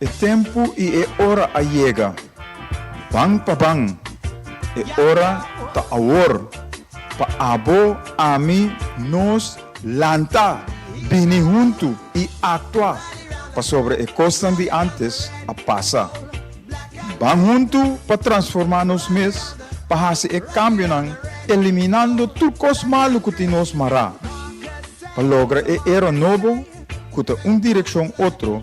E tempu i e ora a yega, ban pa ban! E ora ta awor, pa abo, ami, nos, lanta, bini huntu i aktua pasobra e kosnan di antes a pasa. Ban huntu pa transformá nos mes pa hasi e kambionan eliminando tur kos malu ku tin nos mará pa logra e era nobo ku ta un direkshon otro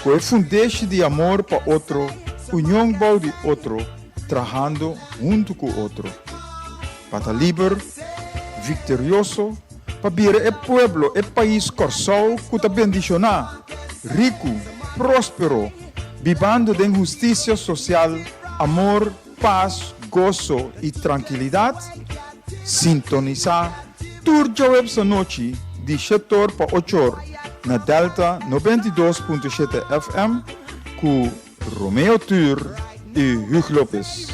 ku e fundeshi di amor pa otro, union bou di otro, trahando huntu ku otro pa ta liber, viktorioso. pa bira e pueblo, e pais Kòrsou ku ta bendishoná, riku, próspero, bibando den hustisia sosial, amor, pas, goso i trankilidat? Sintonisá tur djawèps anochi di shetor pa ochor na Delta noventa i dos punto shete FM ku Romeo Tur i Huug Lopes.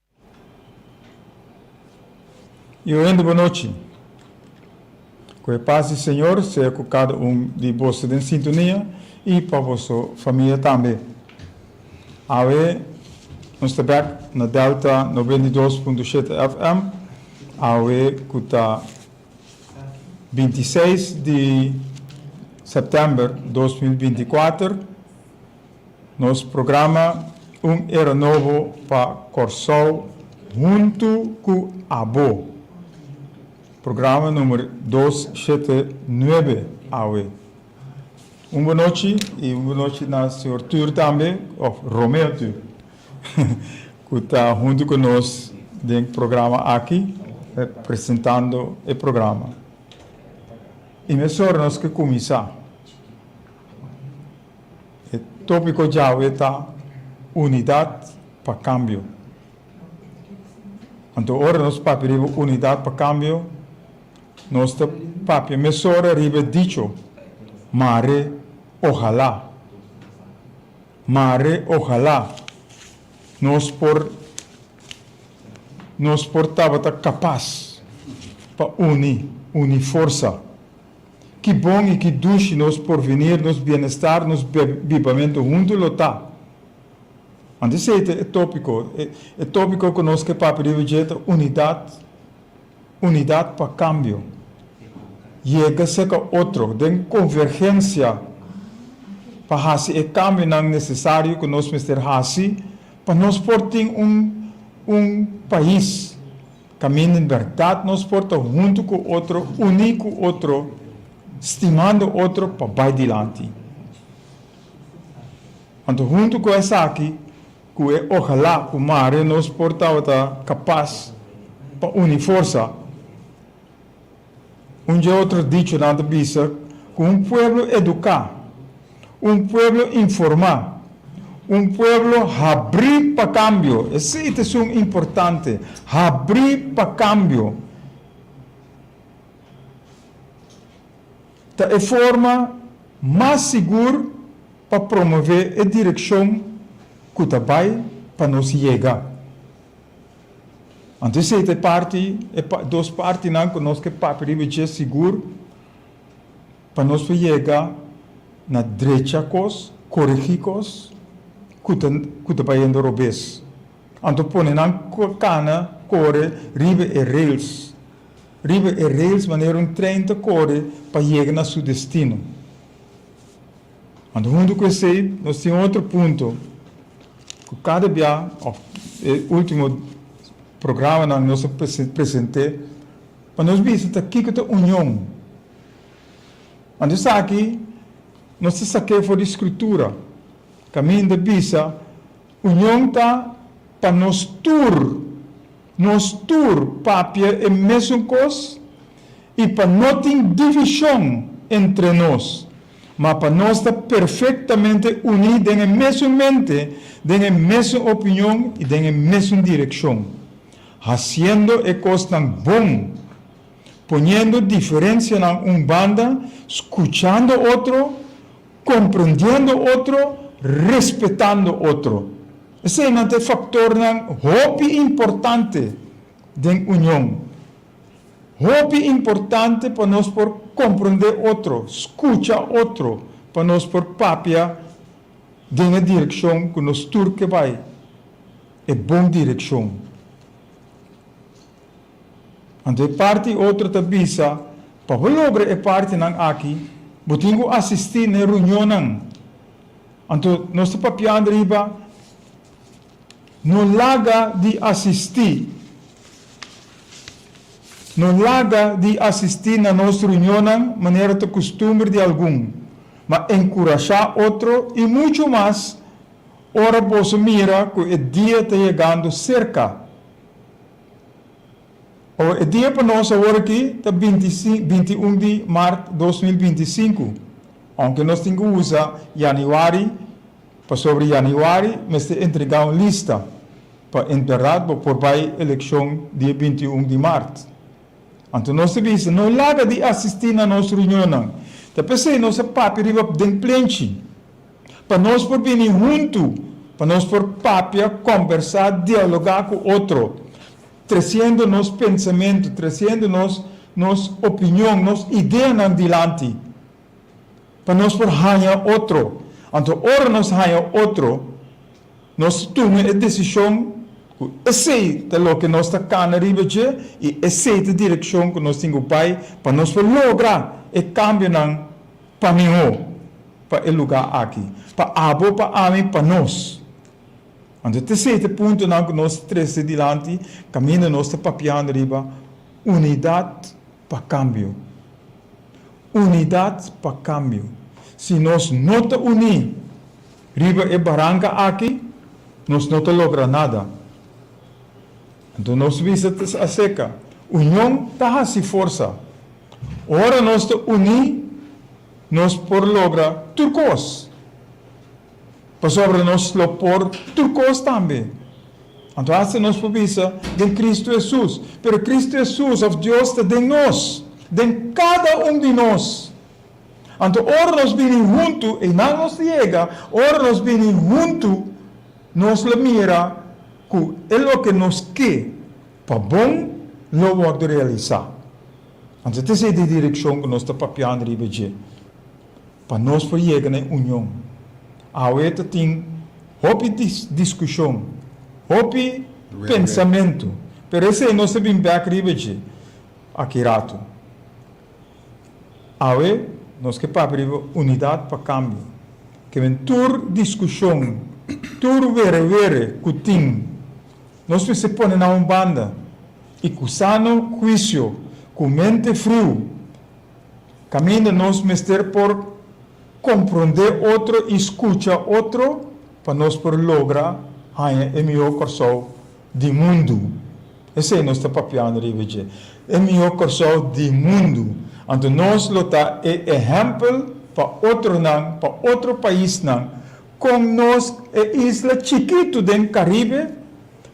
Iu hende bo nochi. Ku e pas di Señor sea ku kada un di boso den sintonia i pa boso famia tambe. Awe nos ta bek na Delta noventa i dos punto shete FM, awe ku ta binti seis di sèptèmber dos mil binti kuater. Nos programa Un Era Nobo pa Kòrsou huntu ku abo, programa numer dos shete nuebe awe. Un bunochi i un bunochi na señor Tur tambe, òf Romeo Tur, ku ta huntu ku nos den programa aki presentando e programa. I mesora nos ke kuminsá. E tópiko djawe ta Unidat pa Kambio. Anto ora nos papia riba Unidat pa Kambio, nos ta papia mesora riba e dicho Mare ohalá. Mare ohalá nos por nos por tabata kapas pa uni uni forsa. Ki bon i ki dushi nos porvinir, nos bienestar, nos bibamentu huntu lo ta! Anto esei ta e tópiko. E tópiko ku nos ke papia riba dje ta unidat, unidat pa kambio. Yega seka otro den konvergensia pa hasi e kambionan nesesario ku nos mester hasi pa nos por tin un pais. Camin den berdad nos por ta hunto cu otro, uni cu otro, stimando otro pa bay dilanti. Anto hunto cu esaki cu e ojalá cu Mario nos por tabata capaz pa uni forsa. Un dje otro dichonan ta bisa ku un pueblo eduká, un pueblo informá, un pueblo habrí pa kambio, esei ta esun importante, habrí pa kambio, ta e forma mas sigur pa promové e direkshon ku ta bai pa nos yega. Anto esei ta e parti, e dos partinan ku nos ke papia riba dje sigur pa nos por yega na drecha kos, koregí kos ku ta ku ta bayendo robes. Anto pone nan kana kore riba e rails, riba e rails manera un tren ta kore pa yega na su destino. Anto huntu ku esei nos tin otro punto ku kada bia òf e último programanan nos a present'é pa nos bisa ta kiko ta union. Anto esaki nos ta sak'é for di skrutura kaminda bisa union ta pa nos tur. Nos tur papia e mesun kos i pa no tin divishon entre nos, ma pa nos ta perfektamente uní den e mesun mente, den e mesun opinion i den e mesun direkshon, hasiendo e kosnan bon, poniendo diferensianan un banda, skuchando otro, Comprendiendo otro, respetando otro. Eseinan ta e factornan hopi importante den union. Hopi importante pa nos por comprende otro, scucha otro pa nos por papia den e direccion cu nos tur ke bay, e bon direccion. Anto e parti otro ta bisa, Pa bo logra e partinan aki, bo tin ku asistí na e reunionnan. Anto nos ta papiando riba no laga di asistí, no laga di asistí na nos reunionnan manera ta kustumber di algun, ma enkurashá otro i muchu mas ora boso mira ku e dia ta yegando serka. Awa e dia pa nos awor aki ta binti binti un di mart dos mil binti i sinku. Ounke nos tin ku usa yanüari pasobra yanüari mester entregá un lista pa en bèrdat bo por bai elekshon dia binti i un di mart. Anto nos ta bisa, no laga di asistí na nos reunionnan, ta p'esei nos a papia riba den plenchi. Pa nos por bini huntu, pa nos por papia, kombersá, dialogá ku otro, tresiendo nos pensamentu, tresiendo nos nos opinion, nos ideanan dilanti, pa nos por haña otro. Anto ora nos haña otro, nos ta tuma e desishon ku esei ta loke nos ta kana riba dje i esei ta direkshon ku nos tin ku bai pa nos por logra e kambionan. Pa mihó, pa e lugá aki. Pa abo, pa ami, pa nos. Anto ta sete puntonan ku nos ta trese dilanti kaminda nos ta papiando riba unidat pa kambio. Unidat pa kambio. Si nos no ta uní riba e baranka aki, nos no ta logra nada. Anto nos bisa ta aseka, Union ta hasi forsa. Ora nos ta uní, nos por logra tur kos. Pasobra nos lo por tur kos tambe. Anto hasta nos por bisa, Den Kristu Hesus. Pero Kristu Hesus, òf Dios, ta den nos, den kada un di nos. Anto ora nos bini huntu, einan nos ta yega, ora nos bini huntu, nos lo mira ku e loke nos ke. Pa bon lo wòrdu realisá. Anto ta esei di direkshon ku nos ta papiando riba dje pa nos por yega na e union. Awe e ta tin hopi diskushon, hopi pensamentu, pero esei nos ta bin bèk riba dje aki ratu. Awe nos ke papia riba unidat pa kambio. Ke men tur diskushon, tur were were ku tin Nos mester pone nan un banda i ku sano huisio, ku mente friu, kaminda nos mester por komprondé otro i skucha otro pa nos por logra haña e mihó Kòrsou di mundu. Esei nos ta papiando riba dje, e mihó Kòrsou di mundu. Anto nos lo ta e ehèmpel pa otronan, pa otro paisnan. Con nos e isla chikitu den Caribe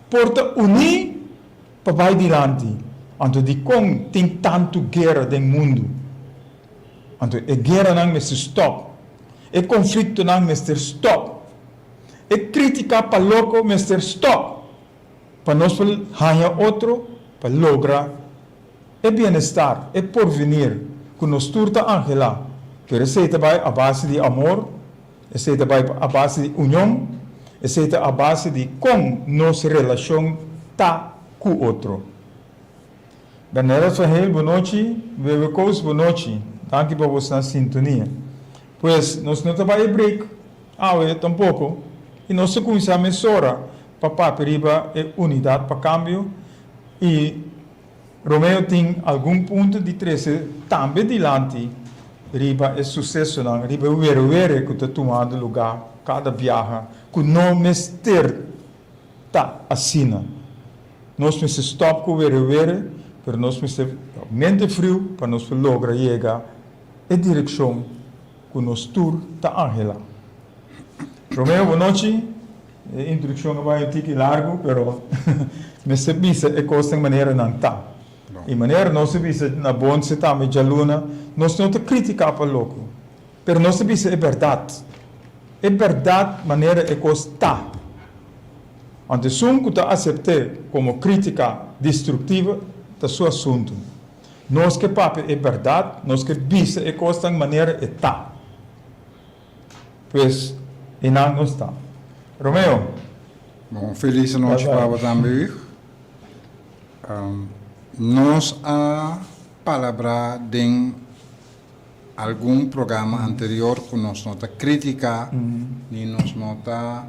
por ta uní pa bai dilanti? Anto dikon tin tantu guera den mundu? Anto e gueranan mester stòp, e konfliktonan mester stòp, e krítika pa loko mester stòp pa nos por haña otro pa logra e bienestar, e porvenir ku nos tur ta anhelá, pero esei ta bai a base di amor. Esei ta bai a base di union. Esei ta a base di con nos relacion ta cu otro. Dan Harold van Heel, bo nochi. Wewe Koos, bo nochi. Danki pa bo sna sintonia. Pues, nos no ta bai e break awe tampoco y nos ta cuminsa mesora pa papia riba e Unidad pa Cambio y. Romeo tin algun punto di trese tambe dilanti riba e sucesonan riba e were were cu ta tumando luga cada biaha cu no mester ta asina. Nos mester stop cu were were pero nos mester mente friu pa nos por logra yega e direccion. cu nos tur ta angela. Romeo bo nochi, e introduccion a bay un tiki largu pero mester bisa e cosnan manera nan ta. Y manera nos a bisa na Bonce tambe djaluna, nos no ta critica pa loco pero nos ta bisa e berdad, e berdad manera e cos ta. Want esun cu ta acepte como critica destructiva ta su asunto. Nos ke papia e bèrdat, nos ke bisa e kosnan manera e ta. Pues, e nan nos ta. Romeo. Bon, un felis nochi pa bo tambe, wich. Nos a palabrá den algun programa anterior ku nos no ta krítika ni nos no ta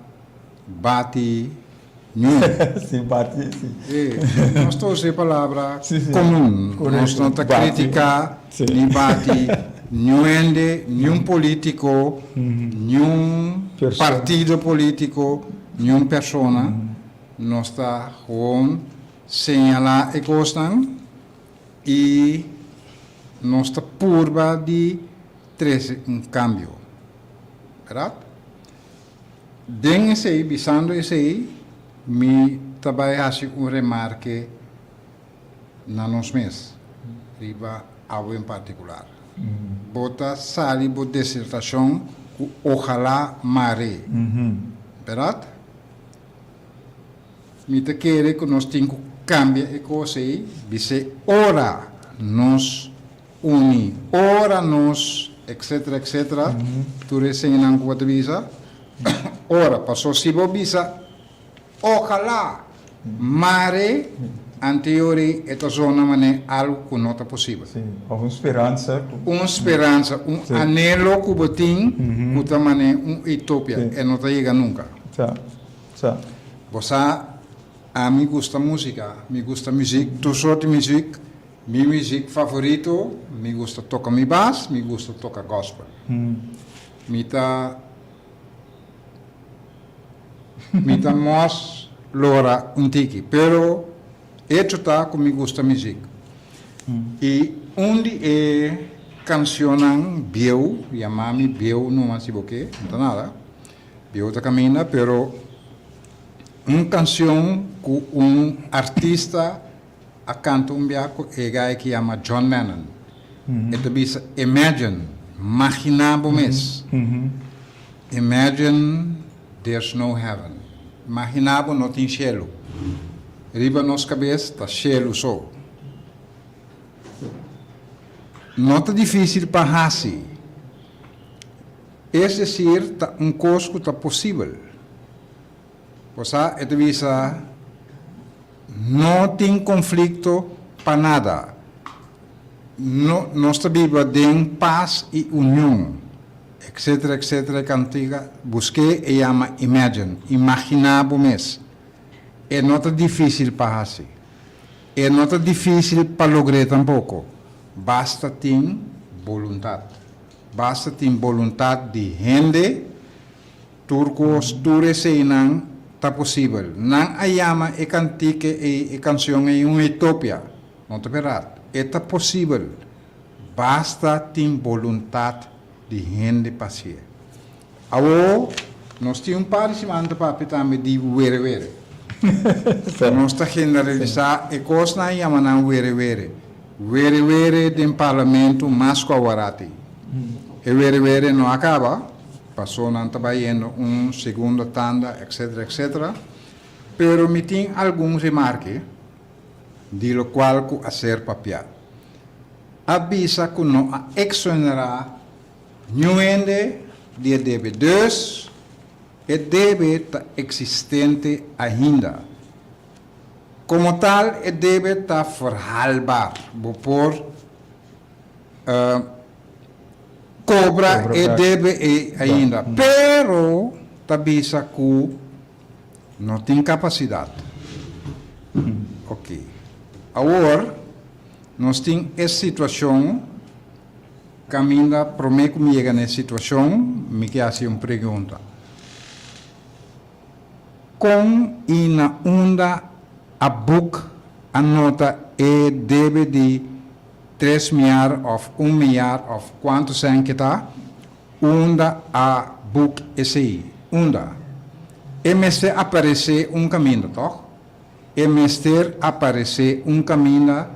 bati. Sin bati, si. Si. Nos ta usa e palabra komun. Nos no ta kritika ni bati niun hende, niun polítiko, niun partido polítiko, niun persona. Nos ta gewoon señalá e kosnan i nos ta purba di trese un kambio. Bèrdat? Den esei, bisando esei, mi ta bai hasi un remarke na nos mes, riba abo en partikular. Bo ta sali bo desertashon ku ohalá mar'é, bèrdat? Mi ta kere ku nos tin ku kambia e kos ei, bis'é ora nos Uni, ora nos, etc. Etc. Tur e señanan ku bo ta bisa, ora. Paso si bo bisa, Ojalá, mare, anteori e ta zona manera algu ku no ta posibel. Sí, òf un speransa ku. Un speransa, un anelo ku bo tin ku ta manera un utopia. E no ta yega nunka. Sa, sa. Bo sa, ami gusta músika, mi gusta muzik, tur sorti muzik. Mi muzik favorito, mi gusta toka mi bas, mi gusta toka gospel. Mi ta mi ta mos lora un tiki, pero echo ta cu mi gusta muzik. Y un di e cancionnan bieu, yama mi bieu numa si bo ke, no ta nada, bieu ta caminda, pero un cancion cu un artista a canta un bia cu e gay ki yama John Lennon. E ta bisa, Imagine, magina bo mes, imagine there's no heaven, magina bo no tin shelu, riba nos cabes ta shelu so. No ta dificil pa haci, es decir, ta un cos cu ta posibel. Bo sa, e ta bisa, No tin konflikto pa nada. No, nos ta biba den pas i union, etsetera, etsetera. E kantika, busk'é, e yama imagine, imaginá bo mes. E no ta difísil pa hasi. E no ta difísil pa logr'é tampoko. Basta tin boluntat. Basta tin boluntat di hende. Tur cos, tur eseinan ta posibel. Nan a yama e cantique ey, e cancion ey un utopia. No ta berdad. E ta posibel. Basta tin boluntad di hende pa haci'e. Awo, nos tin un par di simanta papia tambe di were were. Nos ta generalisa e cos nan yama nan were were. Were were den parlamento mas cu aworati. E were were no a caba. Paso nan ta bai hendo un segundo tanda etc. Etc. Pero mi tin algun remarke di lo cual cu a ser papia. A bisa cu no a exonera niun hende di e debe dus e debe ta existente ainda. Como tal e debe ta verhaalbaar. Bo por. kobra e debe ei ainda, pero ta bisa ku no tin kapasidat. Oke, awor nos tin e situashon, kaminda promé ku mi yega na e situashon, mi ke hasi un pregunta. Kon i na unda a buk a nota e debe di tres miar of un miar of kuantu sèn ke ta? Unda a buk esei? Unda? E mester aparesé un kaminda, tòg? E mester aparesé un caminda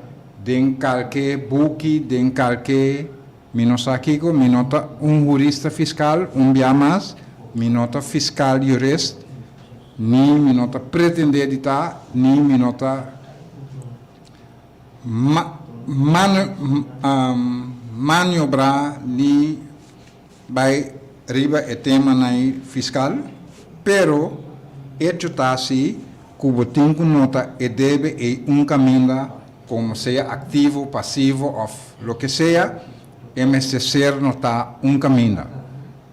den calke buki, den calke, mi no sa kico, mi no ta un jurista fiscal, un bia mas, mi no ta fiscal jurist, ni mi no ta pretendé di ta, ni mi no ta ma, ma, maniobrá, ni. Bai riba e tema nai fiscal, pero echo ta si cu bo tin cu nota e debe ei un caminda, como sea activo, pasivo of loke sea, e mester ser nota un caminda.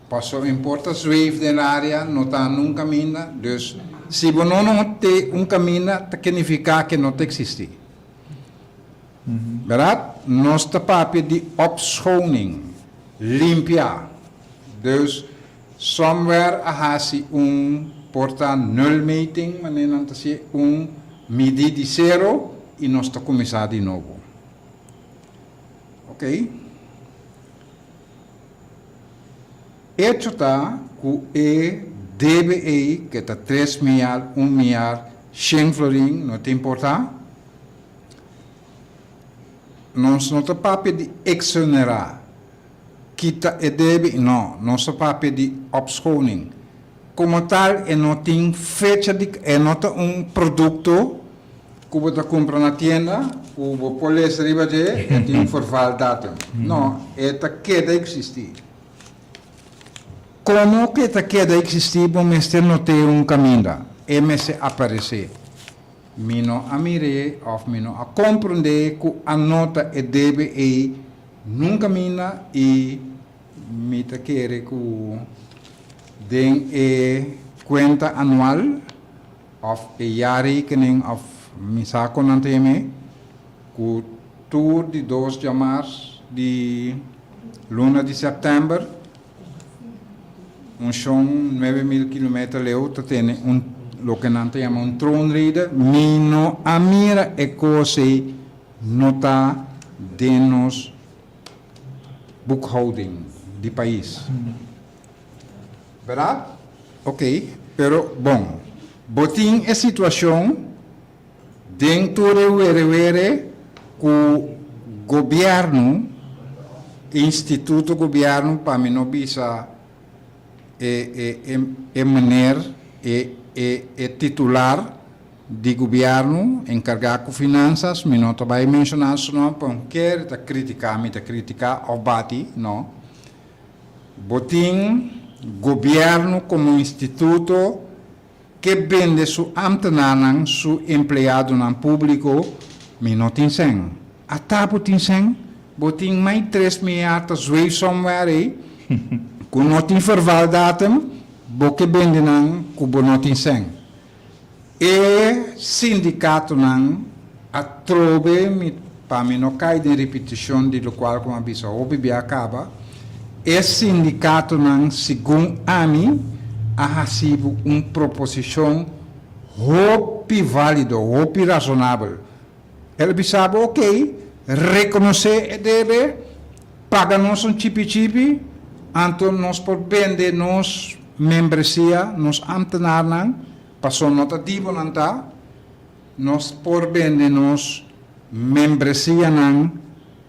Paso importa zweef den area no ta nun caminda, dus si bo no nota un caminda ta kenifica que no ta existi. Berdad? Nos ta papia di opschoning, limpia. Dus somewhere a hasi un, por ta nulmeting, manera nan ta si'e, un midi di sero y nos ta cuminsa di nobo. Ok. Hecho ta cu e debe ey, ke ta tres mial, un mial, shen florin, no ta importa. Nos no ta papia di exonerá, kita e debi, no, nos ta papia di opschoning. Como tal e no tin fecha di, e no ta un producto cu bo ta cumpra na tienda cu bo por lesa riba dje e tin un verval datum. No, e ta keda existi. Como cu e ta keda existi bo mester notea un caminda, e mester aparece. Mi no a mir'é òf mi no a komprondé ku a no ta e debe ei nun kaminda i mi ta kere ku den e kuenta anual òf e yari kenen òf mi sa kon nan ta yam'é ku tur di dos djamars di luna di sèptèmber. Un shon nuebe mil kilometer leu ta tene un loke nan ta yama un troonreder. Mi no a mira e kos ei, no ta den nos boekhouding di pais. Berdat? Oké, pero bon, bo tin e situashon. Den tur e werewere ku gobièrnu, instituto gobièrnu pa mi no bisa e e e e meneer e e e titular di gobièrnu enkargá ku finansas, mi no ta bai menshoná su nòm pa un kere i ta kritiká mi ta kritiká òf bati, no. Bo tin gobièrnu komo instituto. Ke bende su amtenanan su empleadonan publico mi no tin sèn. Ata bo tin sèn? Bo tin mai tres miar ta zweef somewhere ei ku no tin verval datum, bo ke bende nan ku bo no tin sèn. E sindikatonan. Atrobe mi pa mi no cay den repeticion di locual cu mi a bisa hopi bia caba, e sindicatonan segun ami a hacibu un proposicion hopi valido, hopi razonabel. El a bisabu ok, reconoce e debe, paga nos un chipi chipi, anto nos por bende nos membresia, nos ambtenarnan, pasobra no ta dibonan ta. Nos por bende nos membresianan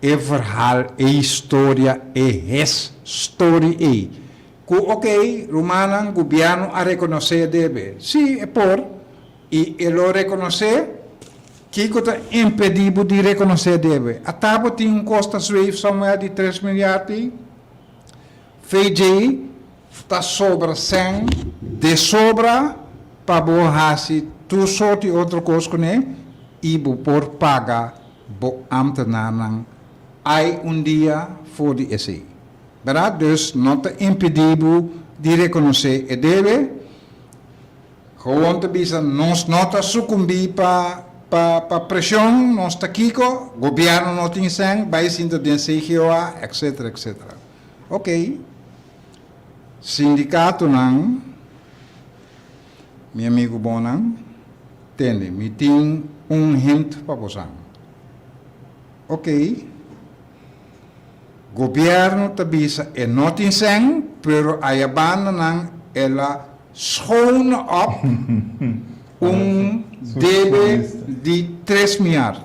e verhal, e historia, e hes story ei. Cu ok, rumannan, gobierno a reconocé debe? Sí, e por. Y e lo reconocé? Kico ta impedi bo di reconocé debe? Ata bo tin un costa zweef somewhere di tres miljard ei? VJ ta sobra sèn de sobra pa bo hasi tur sort di otro kos kuné i bo por paga bo ámtenarnan ai un dia for di esei. Bèrdá? Dus no ta impedí bo di rekonosé e debe. Gewoon ta bisa nos no ta sukumbí pa pa preshon, nos ta kiko? Gobièrnu no tin sèn, bai sinta den CGOA, etcétera, etcétera. Ok, sindikatonan, mi amigu bonan, tende, mi tin un hint pa bosan. Ok, gobièrnu ta bisa e no tin sèn, pero ayabandanan el a schoon op un debe di tres miar.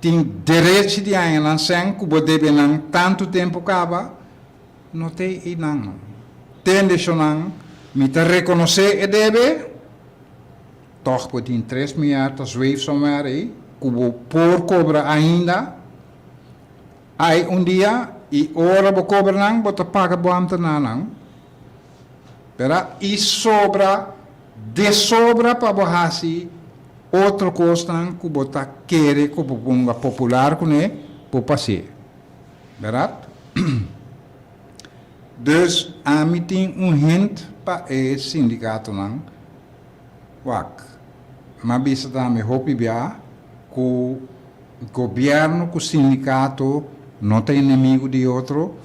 Tin derechi di añanan sèn ku bo debe nan tantu tempu kaba? No te einan. Te neshonnan, mi ta rekonosé e debe. Tòg bo tin tres mier ta zweef somewhere ei ku bo por kobra ainda. Ai un dia i ora bo kobra nan, bo ta paga bo ambtenanan. Pera i sobra de sobra pa bo hasi otro kosnan ku bo ta kere ku bo ponga popular kuné, bo pas'é. Bèrat? Dus ami tin un hint pa e sindikatonan, wak, m'a bisa tambe hopi biaha ku Gobierno cu sindicato no ta enemigo di otro,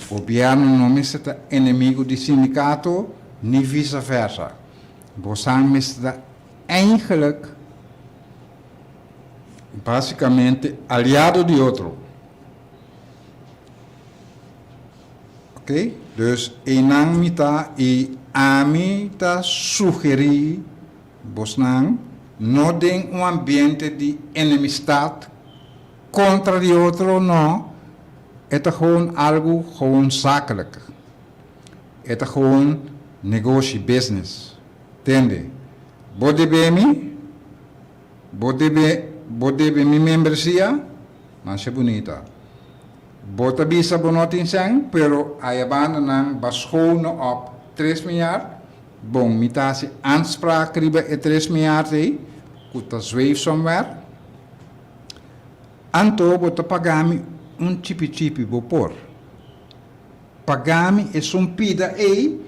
gobierno no mester ta enemigo di sindicato ni vice versa. Bosan mester ta eindelijk, basicamente, aliado di otro. Ok, dus enan mi ta y ami ta sugeri Bosnan no den un ambiente di enemistad contra di otro, no, e ta gewoon algo gewoon zakelijk, e ta gewoon negoshi, business, tende? Bo debe mi, bo debe, bo debe mi membresia, masha bunita. Bo ta bisa bo no tin sen, pero ayabanda nan ba schoon no op tres miñar, Bon, mi ta hasi aanspraak riba e tres miart ei ku ta zweef somewhere. Anto bo ta paga mi un chipichipi, bo por paga mi e sumpida ei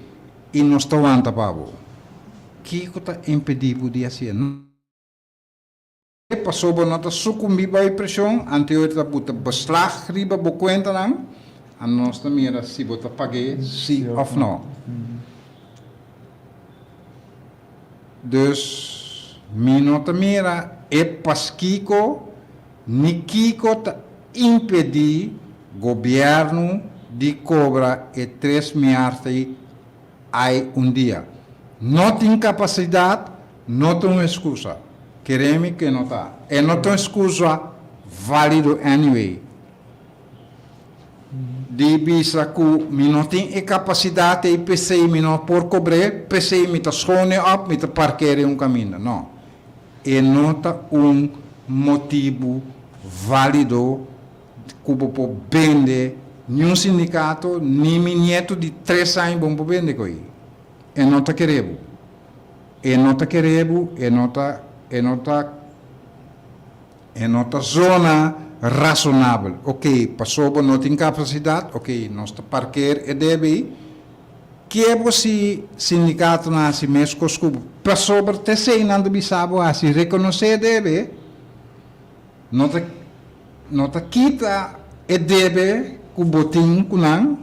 i nos ta wanta pa bo. Kiko ta impedí bo di hasi e? Pasobra no ta sukumbí bai preshon anto e oir ta buta beslag riba bo kuentanan, anos ta mira si bo ta pag'é sí òf no. Dus, mi no ta mira e paskiko ni kiko ta impedí gobièrnu di kobra e tres miart'ei. Ai un dia. No tin capacidad no ta un excusa. Keremi ke no ta. E no ta un excusa valido anyway. Di bisa ku mi no tin e capacidad ei pesei mi no por cobre, pesei mi ta schone op, mi ta parkea den un caminda. No. E no ta un motibu valido. ku bo por bende niun sindikato ni mi nietu di tres aña bo no por bende ku ei e no ta kere bo e no ta kere bo e no ta e no ta e no ta zona rasonabel oke paso bo no tin kapasidat oke nos ta parker e debe ei ke bo si sindikato nan hasi mes kos ku bo pasobra te esei nan ta bisa bo hasi rekonosé e debe. No ta no ta kita e debe ku bo tin ku nan,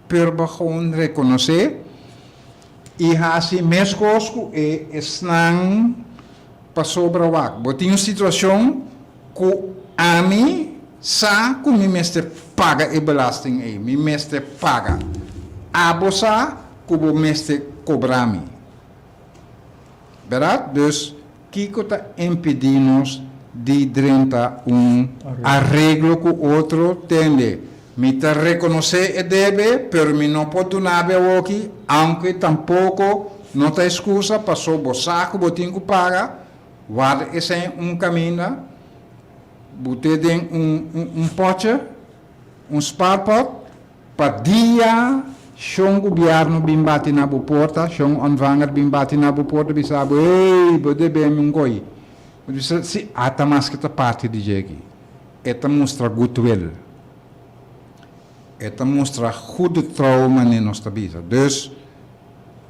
pero bo gewoon rekonosé i hasi meskos ku e esnan pasobra wak bo tin un situashon ku ami sa ku mi mester paga e belasting ei, mi mester paga. Abo sa ku bo mester kobra mi. Berat dus kiko ta impidi nos di drenta un areglo ku otro? Tende, Mi ta rekonosé e debe, pero mi no por duna be awoki, aunke tampoko no ta eskusa, paso bo sa ku bo tin ku paga. Warda esei un kaminda bo te den un pòtje, un spaarpot. Pa dia Shon Gubièrnu bin bati na bo porta, Shon Onvanger bin bati na bo porta bisa bo, Hey, bo deb'é mi un goi. Bo ta bisa, Si, ata mas ke ta parti di dje aki. E ta mustra gutwil. E ta mustra hu di trou mane nos ta bisa. Dus.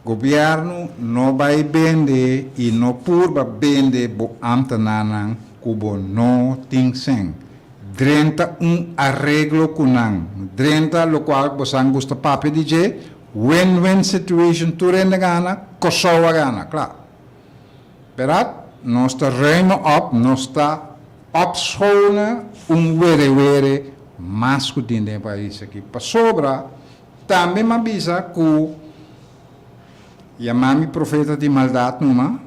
Gobièrnu no bai bende i no purba bende bo ámtenarnan ku bo no tin sen. Drenta un areglo ku nan, drenta lokual bo sa gusta papia di dje, win-win situation, tur hende gana, Kòrsou a gana, kla. Berat? Nos ta ruime òp, nos ta òpschoone un werewere mas ku tin den pais aki. Pasobra. Tambe m'a bisa ku yamá mi profeta di maldat numa,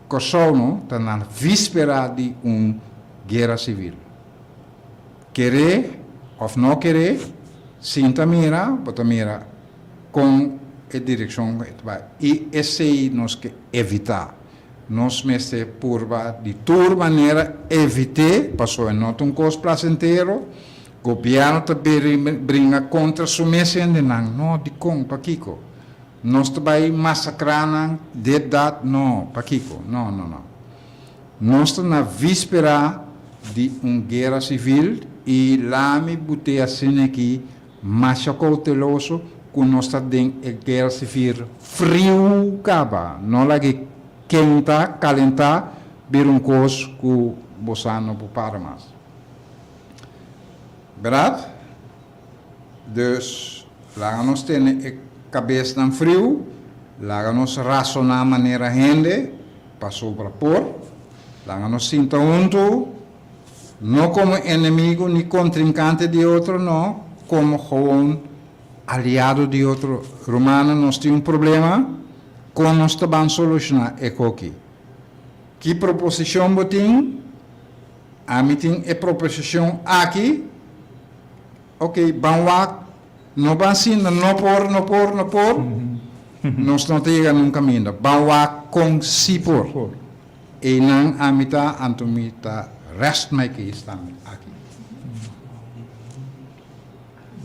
Kosovo ta na víspera di un guera sivil. Keré òf no keré, sinta mira, bo ta mira kon e direkshon ku e ta bai. I esei nos ke evitá. Nos mester purba di tur manera evit'é, pasobra no ta un kos plasentero. Gobièrnu ta bira i bringa kontra su mes hendenan? Nò. Dikon? Pakiko? Nos ta bai masakrá nan depdat? Nò. Pakiko? Nò, nò, nò. Nos ta na víspera di un guera sivil i lami bu te a sina aki masha kouteloso ku nos ta den e guera sivil friu kaba. Nò lag'é kenta, kalentá, bira un kos ku bo sa no por para mas. Berdad? Dus, laga nos tene e kabesnan friu, laga nos rasoná manera hende, pasobra por. Laga nos sinta huntu, no komo enemigu ni kontrinkante di otro, no, komo gewoon aliado di otro rumannan. Nos tin un problema, kon nos ta ban solushoná e hoki? Ki proposishon bo tin? Ami tin e proposicion aki, ok, ban wak, no ban sinda, no por, no por, no por, nos no ta yega nun kaminda, ban wak kon si por. Einan ami ta, anto mi ta rest my case tambe aki.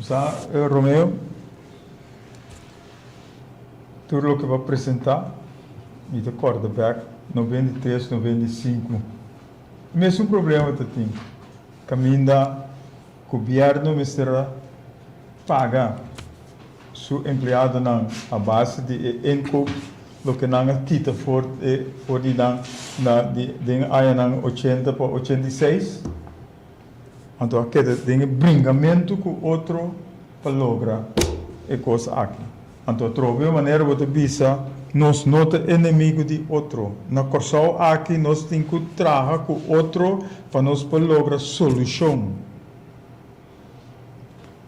Sa, Romeo, tur loke bo presenta, mi ta korda bek, no bende tres, no bende sinku. Mesun problema ta tin caminda gobierno mester a paga su empleadonan a base di e inkoop loke nan a kita for di nan na den añanan ochenta pa ochenta i seis. Anto a keda den e bringamentu ku otro pa logra e kos aki. Anto atrobe un manera bo ta bisa, Nos no ta enemigu di otro. Na Kòrsou aki nos tin ku traha ku otro pa nos por logra solushon.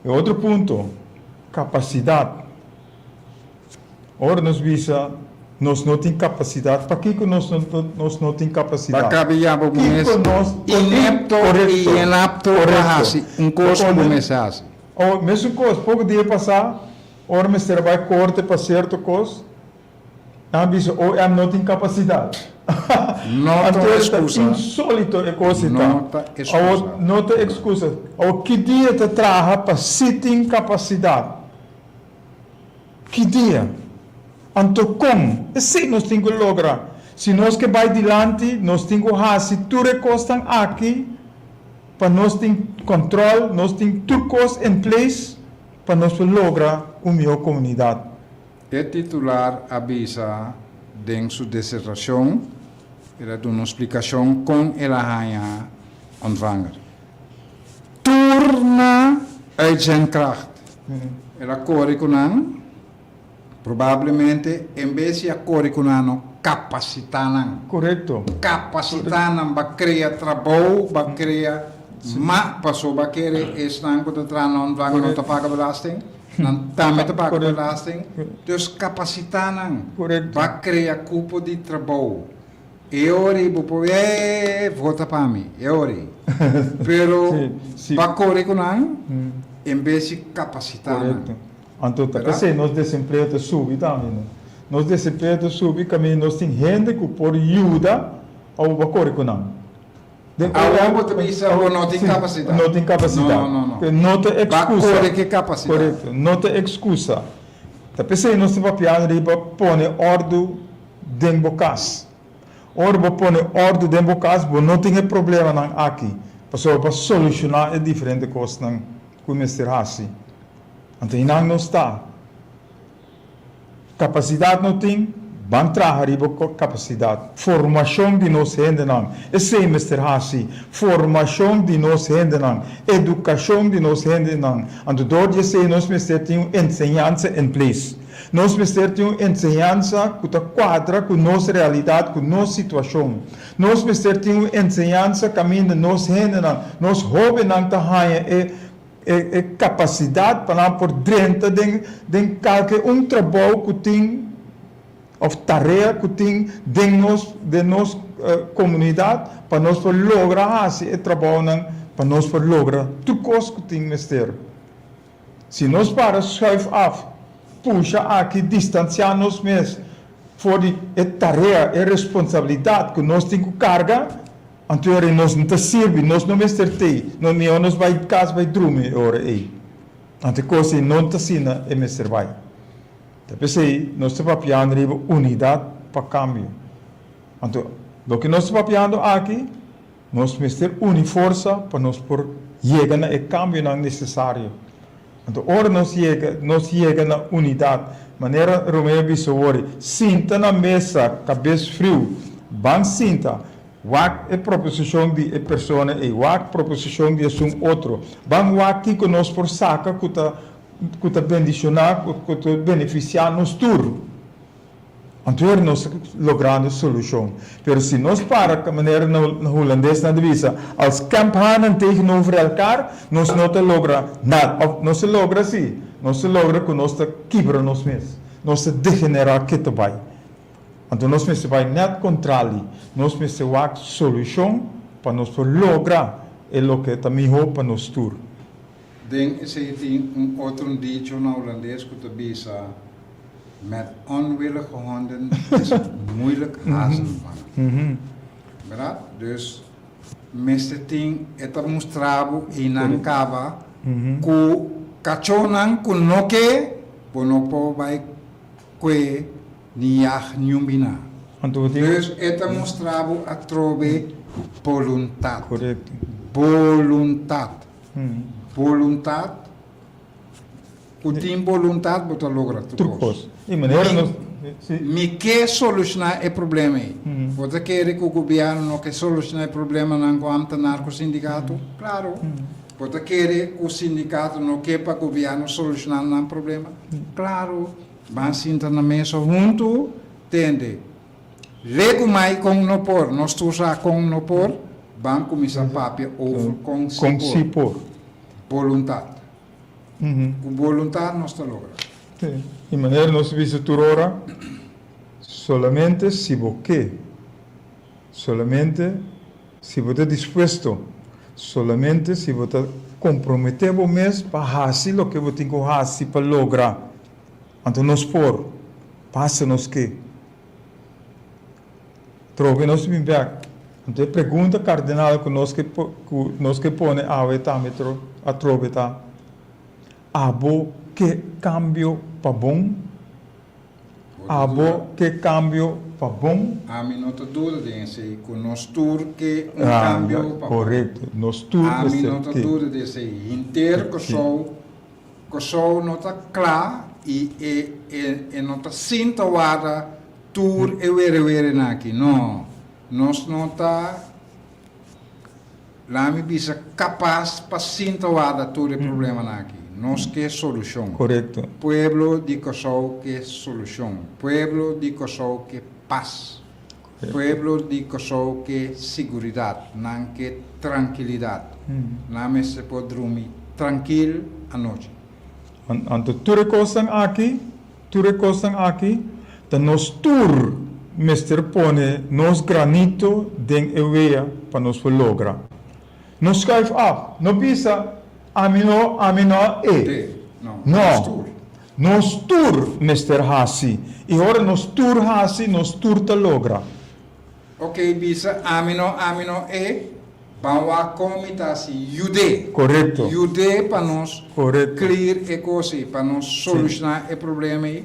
E otro punto, kapasidat. Ora nos bisa nos no tin capacidad, pakico nos nos no tin capacidad? Bo a cabe yama bo mes inepto y inapto pa haci un cos cu bo mes a haci. Awor, mesun cos, poco dia pasa, ora mester a bay corte pa cierto cos, nan a bisa, oh, e ami no tin capacidad. Anto ta insolito e cos ei ta. Awor, no ta excusa. Awor, ki dia ta traha pa si tin capacidad? Hidea, Anto kon? Esei nos tin ku logra. Si nos ke bai dilanti, nos tin ku hasi tur e kosnan aki pa nos tin kòntròl, nos tin tur kos en ples pa nos por logra un mihó komunidat. E titular a bisa den su desertashon, el a duna un splikashon kon el a haña Ontvanger. Tur na Urgentkracht. El a kore ku nan. Probablemente en bes di a kore ku nan no kapasitá nan. Korekto. Kapasitá nan ba krea trabou, ba krea ma paso ba kere esnan ku ta traha nan dwanga no ta paga belasting, nan tambe ta paga belasting. Entonces kapasitá nan ba krea kupo di trabou. E ori bo por e vota pa mi e ori pero ba kore ku nan en bes si kapasitá nan. Korekto. Anto ta p'esei nos desempleo ta subi tambe no. Nos desempleo ta subi kaminda nos tin hende ku por yuda awo ba kore ku nan. Den ora awo bo ta bisa bo no tin kapasitá. No tin kapasitá. No no no. No ta ekskusa. Ba kore ke kapasitá. Korekto. No ta ekskusa. Ta p'esei nos ta papiá riba pone ordu. den bo cas. Ora bo pone orde den bo cas bo no tin e problemanan aki pasobra pa soluciona e diferente cosnan cu mester haci. Anto y nan no sta. Capacidad no tin, ban traha riba capacidad. Formacion di nos hendenan, esey mester haci. Formacion di nos hendenan, educacion di nos hendenan. Anto door di esey nos mester tin un enseñansa en place. Nos mester tin un enseñansa ku ta kuadra ku nos realidat, ku nos situashon. Nos mester tin un enseñansa kaminda nos hendenan, nos hóbennan ta haña e e kapasidat pa nan por drenta den den kalke un trabou ku tin òf tarea ku tin den nos den nos komunidat pa nos por logra hasi e trabounan, pa nos por logra tur kos ku tin mester. Si nos para schuif af, pusha aki distansiá nos mes for di e tarea, e responsabilidat ku nos tin ku karga, anto e ora ei nos no ta sirbi, nos no mester t'ei, nos mihó nos bai kas bai drumi e ora ei, anto e kos ei no ta asina e mester bai. Ta p'esei nos ta papiando riba unidat pa kambio. Anto, loke nos ta papiando aki? Nos mester uni forsa pa nos por yega na e kambionan nesesario. Anto ora nos yega nos yega na unidat, manera Romeo a bisa wòrdi, sinta na mesa kabes friu, ban sinta, wak e proposishon di e persona ei, wak proposishon di asun otro, ban wak kiko nos por saka ku ta ku ta bendishoná, ku ta benefisiá nos tur. Anto er nos ta logrando solucion. Pero si nos para ta manera na hulandesnan ta bisa, als kemphanen tegenover elkaar, nos no ta logra nada. Of nos ta logra si, nos ta logra cu nos ta kibra nos mes. Nos ta degenera ke ta bay. Anto nos mester bay net contrali. Nos mester wak solucion pa nos por logra e loke ta miho pa nos tur. Den esei tin un otro'n dicho na Hulandes ku ta bisa, Met onwillige honden is het moeilijk hazen te vangen. Berdat? Dus, mester tin e ta mustra bo einan kaba ku kachónan ku no ke, bo no por bai kue ni yag niun biná. Dus, e ta mustra bo atrobe boluntat. Boluntat. Boluntat, cu tin boluntat bo ta logra tur cos. Mi ke soluciona e problema ey. Bo ta kere cu gobierno no ke soluciona e problemanan cu am ta narcosindicato? Claro. Bo ta kere cu sindicato no ke pa gobierno soluciona nan problema? Claro. Ban sinta na mesa hunto tende. Legu mai con no por, nos tur sa con no por, ban cuminsa papia over con si por. Boluntad. Cu boluntad nos ta logra. Y manera nos ta bisa tur ora, solamente si bo ke, solamente si bo ta dispuesto, solamente si bo ta compromete bo mes pa haci loke bo tin cu haci pa logra. Anto nos por pasa nos ke trobe i nos bin bek. Anto e pregunta kardinal ku nos ke pone awe tambe atrobe ta, Abo ke kambio pa bon? Abo ke kambio pa bon? Ami no ta duda den esei ku nos tur ke un kambio pa bon. Korekto. Nos tur mester ke. Ami no ta duda di esei. Henter Kòrsou. Kòrsou no ta kla i e no ta sinta warda tur e werewerenan aki. No, nos no ta, laat mi bisa, kapas pa sinta warda tur e problemanan aki. Nos ke solushon. Pueblo di Kòrsou ke solushon. Pueblo di Kòrsou ke pas. Pueblo di Kòrsou ke siguridat, nan ke trankilidat. Nan mester por drumi trankil anochi. Anto tur e kosnan aki, tur e kosnan aki ta nos tur mester pone nos granito den e wea pa nos por logra. No schuif af, no bisa ami no, ami no e. Te, no. No. Nos tur mester hasi i ora nos tur hasi nos tur ta logra. Ok bisa ami no ami no e ban wa kon mi ta hasi yud'é Korekto. yud'é pa nos Korekto. clear e kos ei pa nos solushná e problema ei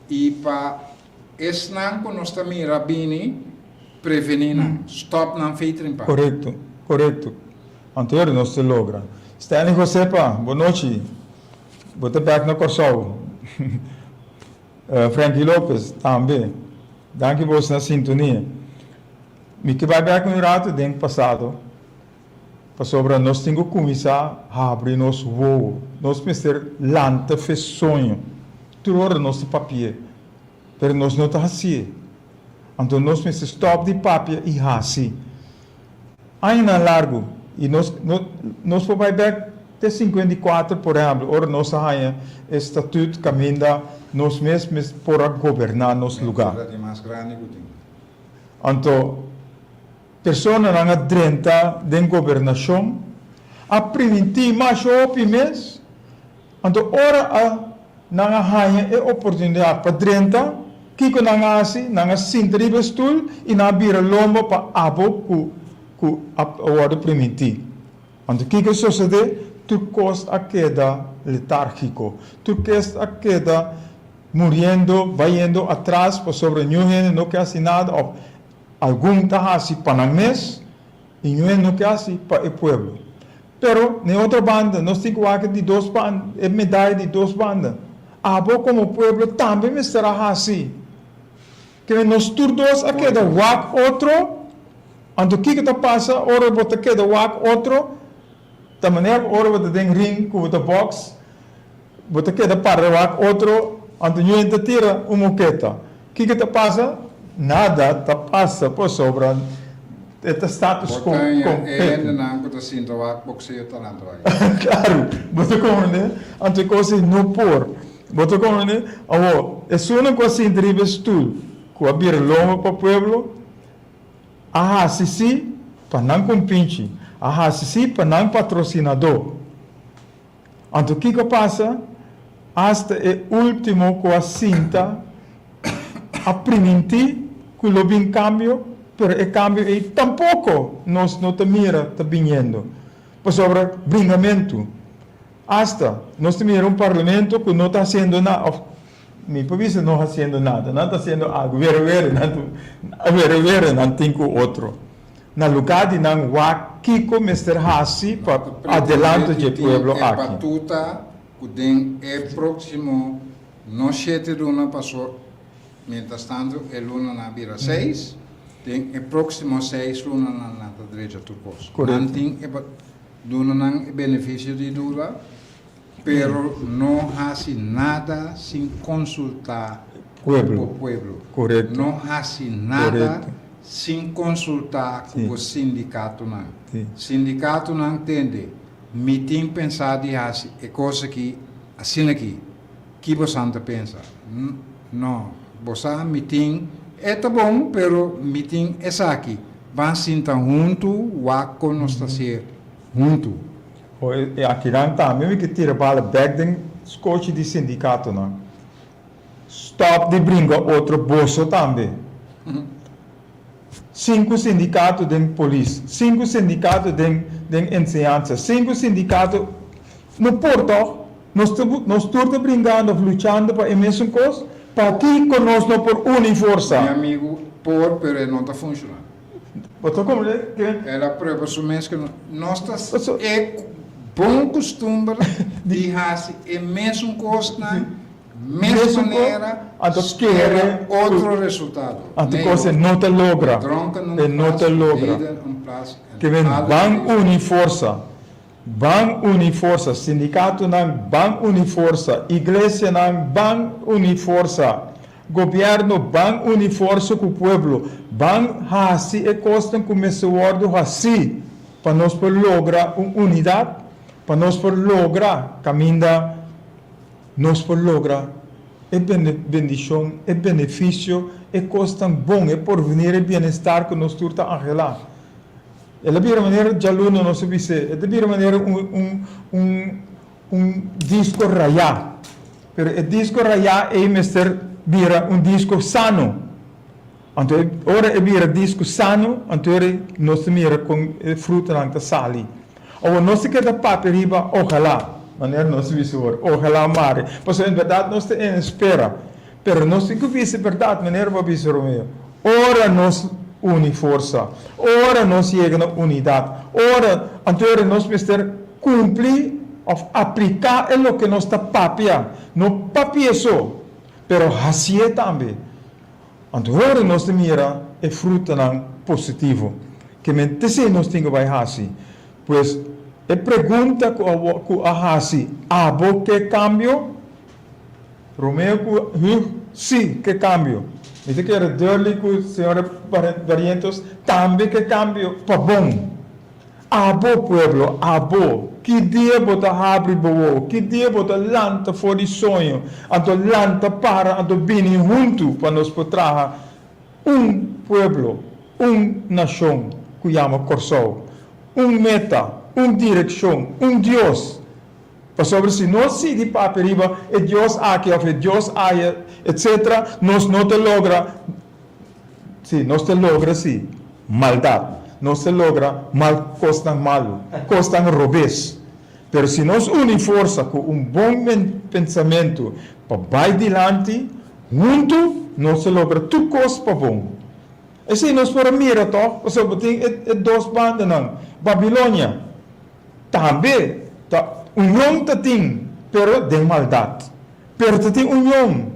i pa Esnan cu nos ta mira bini, preveni nan, stop nan fey trimpa. Corecto, corecto. Anterior nos te logra. Stanley Josepa, bo nochi. Bo ta back na Corsou. Frankie Lopez, tambe. Danki bo esnan sintonia. Mi ke bay back un rato den pasado. Pasobra nos tin cu cuminsa habri nos wowo. Nos mester lanta fe soño tur ora nos ta papi'e, pero nos no ta haci'e. Anto nos mester stop di papia y haci. Añanan largu y nos nos por bay bek te cincuenta y cuatro, por ehemplo, ora nos a haña e statut caminda nos mes por a goberna nos lugar. Anto. Personanan a drenta den gobernashon, a primintí mas hopi mes, anto ora a nan a haña e oportunidat pa drenta, kiko nan a hasi? Nan a sinta riba e stul i nan a bira lomba pa abo ku ku a wòrdu primintí. Anto kiko sosodé? Tur kos a keda letárgiko. Tur kos a keda muriendo, bayendo atras pasobra ñu hende no ke hasi nada òf. Algun ta hasi pa nan mes i ñue no ke hasi pa e pueblo. Pero na e otro banda nos tin ku wak di dos banda, e medai di dos banda. Abo komo pueblo tambe mester a hasi. Kende nos tur dos a keda wak otro, anto kiko ta pasa ora bo ta keda wak otro? Ta manera ora bo ta den ring ku bo ta box. Bo ta keda parda wak otro anto ñu'en ta tira un moketa. Kiko ta pasa? Nada ta pasa pasobra e ta status quo Bo ta haya e completo. hendenan cu ta sintra wak boxeo talanto aki. Claro, bo ta comprende? Anto e cos ei no por. Bo ta comprende? Awor, esunnan cu a sintra riba e stoel, cu a bira lomba pa pueblo, a haci si pa nan compinchi, a haci si pa nan patrocinador. Anto kiko pasa? Asta e ultimo ku a sinta a primintí ku lo bin kambio, pero e kambio ei tampoko nos no ta mira ta biniendo. Pasobra bringamentu, asta nos ta mira un parlamento ku no ta hasiendo nan òf Mi por bisa no haciendo nada. Nan ta haciendo algo. Were were nan ta were were nan tin cu otro. Na lugar di nan wak kico mester haci pa adelanto dje pueblo aki. Presidentetin tin e batuta cu den e proximo no shete luna paso mientras tanto e lunanan a bira seis, den e proximo seis lunanan nan ta drecha tur cos. Nan tin e lunanan e beneficio di dura. Pero no hasi nada sin konsultá ku bo pueblo. No hasi nada sin konsultá ku bo sindikatonan. Sindikatonan tende mi tin pensá di hasi e kos aki asina aki. Ki bosan ta pensa? No, bo sa mi tin e ta bon pero mi tin esaki. Ban sinta huntu wak kon nos ta ser huntu. Ho e akinan tambe mi ke tira bala bek den skochi di sindikatonan. Stop di bringa otro boso tambe. Sinku sindikato den polis, sinku sindikato den den enseñansa, sinku sindikato, no por tog? Nos ta nos tur ta bringando of luchando pa e mesun kos? Pakiko nos no por uni forsa? Mi amigu, por pero e no ta funshona. El a prueba su mes ku nos ta sigi e bon kustumber di hasi e mesun kosnan mesun manera spera otro resultado. Nei hopi, e dronkennan pasa un bida en plas el hal un bida. Ban uni forsa, sindikatunan ban uni forsa, iglesianan ban uni forsa, gobièrnu ban uni forsa ku pueblo, ban hasi e kosnan ku mester wòrdu hasí pa nos por logra un unidat, pa nos por logra kaminda nos por logra e bendishon, e benefisio, e kosnan bon, e porvini, e bienestar ku nos tur ta anhelá. El a bira manera djaluna nos a bis'é. E ta bira manera un disko rayá. Pero e disko rayá ei mester bira un disko sano. Anto ora e bira disko sano, anto ora nos ta mira kon e frutanan ta sali. Awa nos ta keda papia riba ojalá, manera nos a bisa ora, ojalá mari. Pasobra en berdad nos ta espera. Pero nos tin cu bisa berdad, manera bo a bisa, Romeo. Ora nos uni forsa, ora nos yega na unidad, ora, anto era nos mester cumpli of aplica e loke nos ta papia, no papia so, pero haci'e tambe. Anto ora nos ta mira e frutanan positivo. Ke men ta hacé nos tin cu bay haci? Pues, e pregunta cu a haci, abo ke cambio? Romeo cu Huug, Si, ke cambio. Mi ta kere duidelijk cu Sra. Barrientos tambe ke cambio pa bon. Abo, pueblo, abo, ki dia bo ta habri bo wou, ki dia bo ta lanta for di soño, anto lanta para, anto bini huntu pa nos por traha un pueblo, un nacion cu yama Corsou. Un meta, un direccion, un Dios. Pasobra si nos sigui papia riba e dios aki òf e dios aya, etc. Nos no ta logra, sí, nos ta logra sí, maldat. Nos ta logra mal kosnan malu, kosnan robes. Pero si nos uni forsa ku un bon pensamentu pa bai dilanti, huntu nos ta logra tur kos pa bon. Esei nos por a mira tòg, pasobra tin e dos bandanan. Babilonia. Tambe ta union ta tin pero den maldad. Pero ta tin union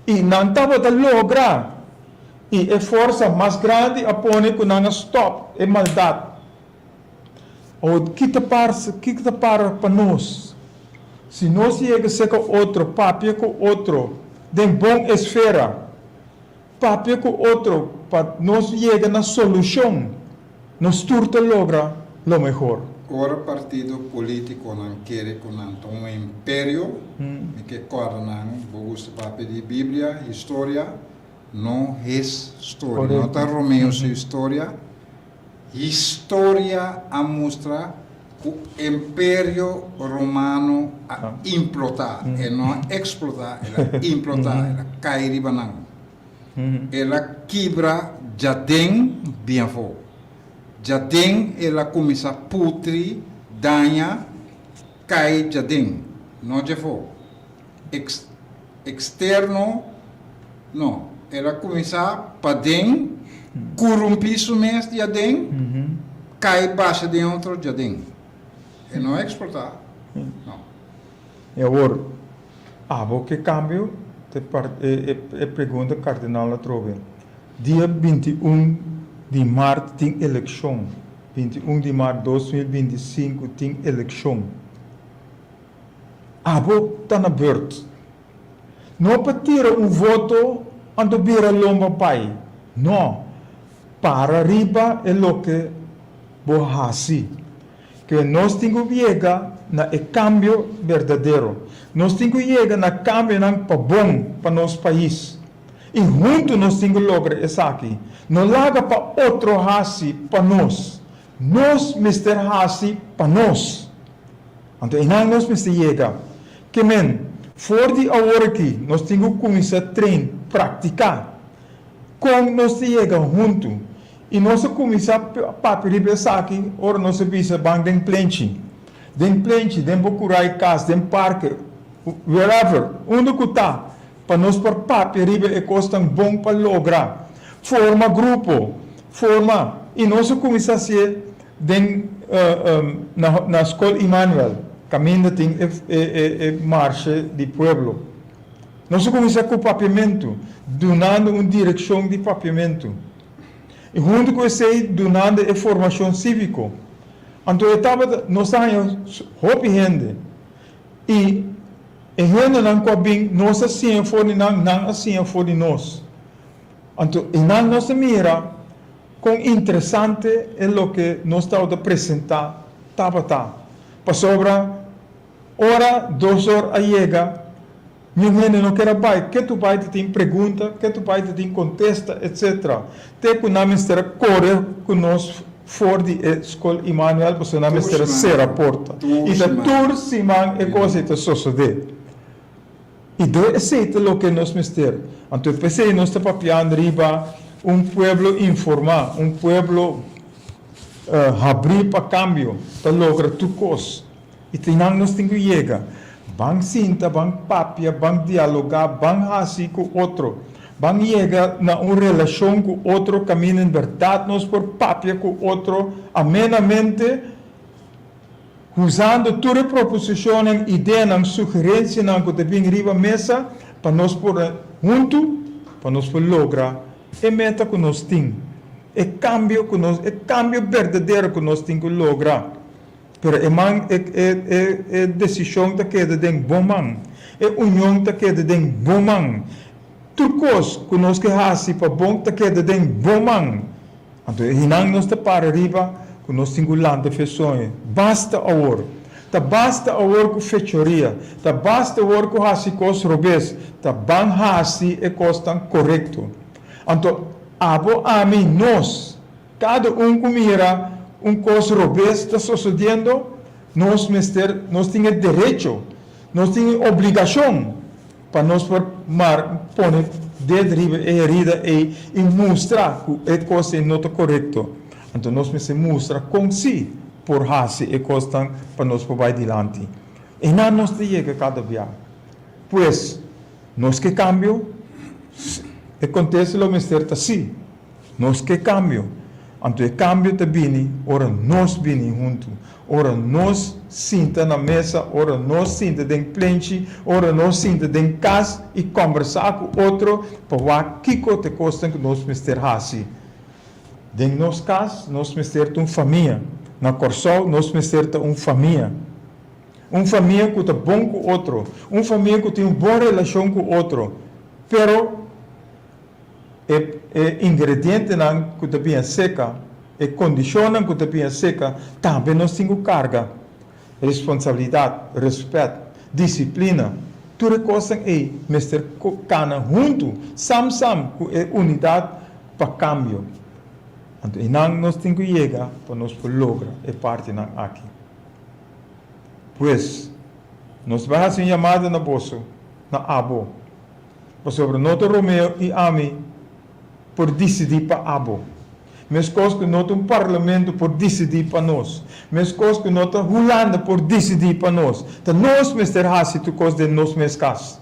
y nan tabata logra y e forsa mas grandi a pone cu nan a stop e maldad. Awor ki ta pasa, ki ta para pa nos si nos yega seca otro papia cu otro den bon esfera? Papia ku otro pa nos yega na solushon, nos tur ta logra lo mehor. Ora partido politikonan kere ku nan ta un imperio, mi ke kòrda nan, bo gusta papia di Biblia, historia, no his storia, no ta Romeo su historia, Historia a mustra cu Imperio Romano a implota, e no a explota, el a implota, el a cay riba nan. El a kibra jaden bien afo. Jaden el a cuminsa putri, daña, cay jaden, no dje afo. Externo, No, el a cuminsa paden, curumpi su mes di aden, cay basha den otro djaden. E no a exporta, no. Y awor, abo ke cambio? Ta e pregunta Cardenal a trobe. Dia binti i un di mart tin eleccion, binti i un di mart dos mil binti i sinku tin eleccion. Abo ta na beurt. No pa tira un voto anto bira lomba bai. No. Para riba e loke bo haci. Ke nos tin cu yega na e cambio berdadero. Nos tin cu yega na cambionan pa bon pa nos pais. Y hunto nos tin cu logra esaki. No laga pa otro haci pa nos. Nos mester haci pa nos. Anto einan nos mester yega. Ke men, for di awor aki nos tin ku kuminsá train, praktiká, kon nos ta yega huntu. I nos a kuminsá papia riba esaki ora nos a bisa ban den plenchi. Den plenchi, den bo kurai kas, den parke, wherever, unda ku ta, pa nos por papia riba e kosnan bon pa logra. Forma grupo. Forma. I nos a kuminsá hasié Den na Skol Immanuel kaminda tin e marshe di pueblo. Nos a kuminsá ku papiamentu, dunando un direkshon di papiamentu i huntu ku esei dunando e formashon síviko. Anto e tabata nos ta haña hopi hende i e hendenan ku a bin nos a siña for di nan, nan a siña for di nos. Anto Inan nos ta mira kon interesante e loke nos tabata presenta tabata, pasobra ora dosor a yega niun hende no ker a bai, ke tu bai ta tin pregunta, ke tu bai ta tin kontesta etc. Te ku nan mester a kore ku nos for di e Skol Immanuel pasobra nan mester a sera porta i ta tur siman e kos ei ta sosode. I do esei ta loke nos mester. Anto e p'esei nos ta papiando riba un pueblo informá, un pueblo habrí pa kambio, pa logra tur kos. I ta nan nos tin ku yega. Ban sinta, ban papia, ban dialogá, ban hasi ku otro, ban yega na un relashon ku otro kaminda en bèrdat nos por papia ku otro amenamente. Husando tur e proposishonnan, ideanan, sugerensianan ku ta bin riba mesa pa nos por huntu pa nos por logra e meta ku nos tin, e kambio ku nos e kambio berdadero ku nos tin ku logra. Pero e man e e e e desishon ta keda den bo man. E union ta keda den bo man. Tur kos ku nos ke hasi pa bon ta keda den bo man. Anto ehinan nos ta para riba cu nos tin cu lanta fe soño. Basta awor! Ta basta awor cu fechoria! Ta basta awor cu haci cos robes! Ta ban haci e cosnan corecto! Anto abo, ami, nos, cada un cu mira un cos robes ta sosodiendo, nos mester, nos tin e derecho, nos tin e obligacion, Pa nos por Mark pone ded riba e herida ei i mustra ku e kosnan no ta korekto, anto nos mester mustra kon si por hasi e kosnan pa nos por bai dilanti. E na nos ta yega kada bia. Pues, nos ke kambio? S, e kontesto lo mester ta si. Nos ke kambio. Anto e kambio ta bini ora nos bini huntu, ora nos sinta na mesa, ora nos sinta den plenchi, ora nos sinta den kas i kòmbersá ku otro pa wak kiko ta e kosnan ku nos mester hasi. Den nos kas nos mester ta un famia. Na Kòrsou nos mester ta un famia. Un famia ku ta bon ku otro. Un famia ku tin un bon relashon ku otro. Pero E ingredientenan ku ta bia seka, e kondishonnan ku ta bia seka, tambe nos tin ku karga responsabilidat, rèspèt, disiplina. Tur e kosnan ei mester kana huntu, sam sam ku e unidat pa kambio. Anto einan nos tin ku yega pa nos por logra e partinan aki. Pues, nos ta hasi un yamada na boso, na abo. Pasobra no ta Romeo i ami por disidí pa abo. Meskos ku no ta un parlamento por disidí pa nos, meskos ku no ta Hulanda por disidí pa nos, ta nos mester hasi tur kos den nos mes kas.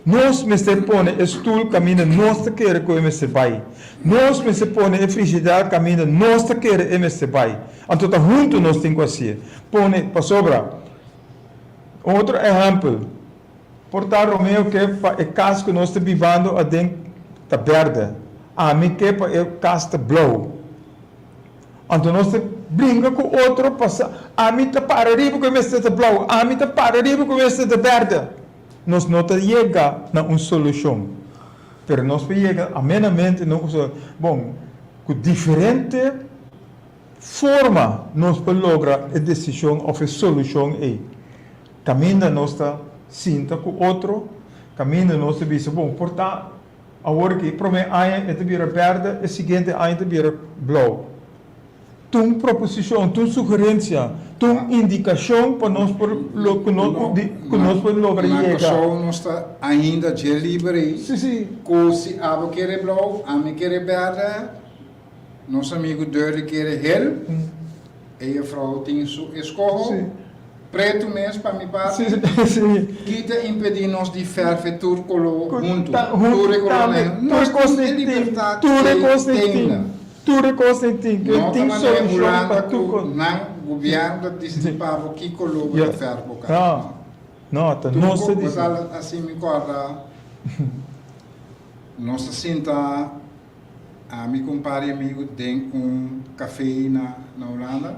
Nos mester pone e stul kaminda nos ta kere ku e mester bai. Nos mester pone e frigidera kaminda nos ta kere e mester bai. Anto ta huntu nos tin ku hasi'e. Pone, pasobra, un otro ehèmpel. Por ta Romeo ke pa e kas ku nos ta bivando aden ta berde, ami ke pa e kas ta blou. Anto nos ta bringa ku otro pa sa ami ta para riba ku e mester ta blou, ami ta para riba ku e mester ta berde. Nos no ta yega na un solushon, pero nos por yega amenamente na un solushon. Bon, ku diferente forma nos por logra e desishon òf e solushon ei. Kaminda nos ta sinta ku otro, kaminda nos ta bisa bon por ta. Awor ki e promé aña e ta bira bèrdè, e siguiente aña ta bira blou. Ta un proposishon, ta un sugerensia, ta un indikashon pa nos por ku nos por logra yega. Na Kòrsou nos ta ainda dje liber ei, ku si abo kere blou, ami kere bèrdè. Nos amigu Durley kere hel. E jefrouw tin su eskoho. Pretu mes pa mi parti. Ki ta impedi nos di ferfe tur kolo huntu? Tur e kolornan. Nos tin e libertat di tennan. No ta manera e Hulanda ku nan gubièrnu ta disidi pa bo ki kolo bo ta ferfe bo kasa. No. Truko, bo ta hasi mi kòrda nos ta sinta. Ami ku un par di amigu den un kafé na Hulanda,